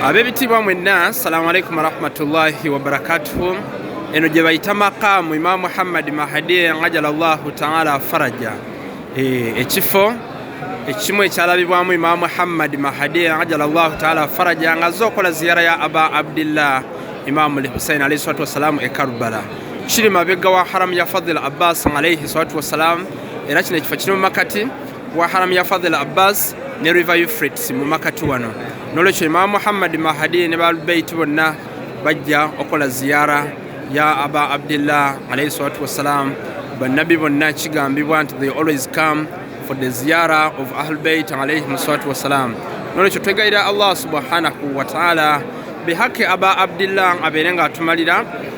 abebitiibwa mwenna assalamu alaikum warahmatullahi wabarakatuhu eno gye bayita maqaamu imaam muhammadi mahadi ajala llahu taala faraja e, ekifo ekimu ekyalabibwamu imaam muhammadi mahadi ajala llahu taala faraja nga azze okola ziyara ya aba abdillah imaamu lhusain alaihi salatu wassalaamu e karbala kiri mabega wa haramu ya fadil abbas alaihi salatu wassalaamu era kino ekifo kiri mu makati wa haramu ya fadhil abbas ne river euphrates mu makati wano nolwekyo imamu muhammadi mahadi ne baalbeiti bonna bajja okola ziyara ya aba abdillah alaihi salatu wassalam bannabi bonna kigambibwa nti they always come for the ziyara of ahlbeit alaihim salatu wassalam nolwekyo twegayira allah subhanahu wataala bihaki aba abdillah abeere nga atumalira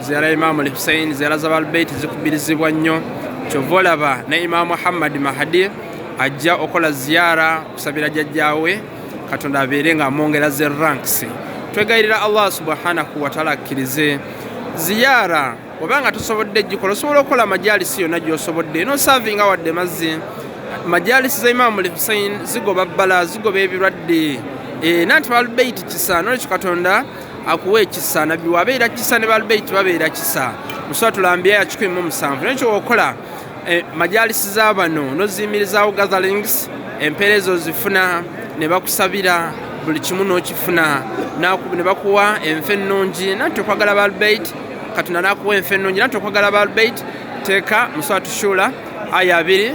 ziyaara imaamu al hussein ziyaara zabalbeiti zikubirizibwa nnyo kyova olaba ne imaamu muhammadi mahadi ajja okola ziyaara kusabira jajjawe katonda abeere nga amwongera ze ranks twegayirira allah subhanahu wataala akkirize ziyaara oba nga tosobodde gikola osobola okukola amajalisi yonna gyosobodde nosavinga wadde mazzi majalisi za imaamu al hussein zigoba bbala zigoba ebirwadde eh, nanti balbeiti kisa nolwekyo katonda akuwa ekisa nabbi wabeera kisa ne balbeiti babeera kisa musola tulambya yakikumi mu musanvu naye kyowokola eh, majalisi za bano noziyimirizaawo gatherings empeera ezo zifuna ne bakusabira buli kimu n'okifuna ne bakuwa enfa ennungi nanti okwagala balbeiti katonda nakuwa enfa ennungi nanti okwagala balbeiti teeka muswala tushuula aya abiri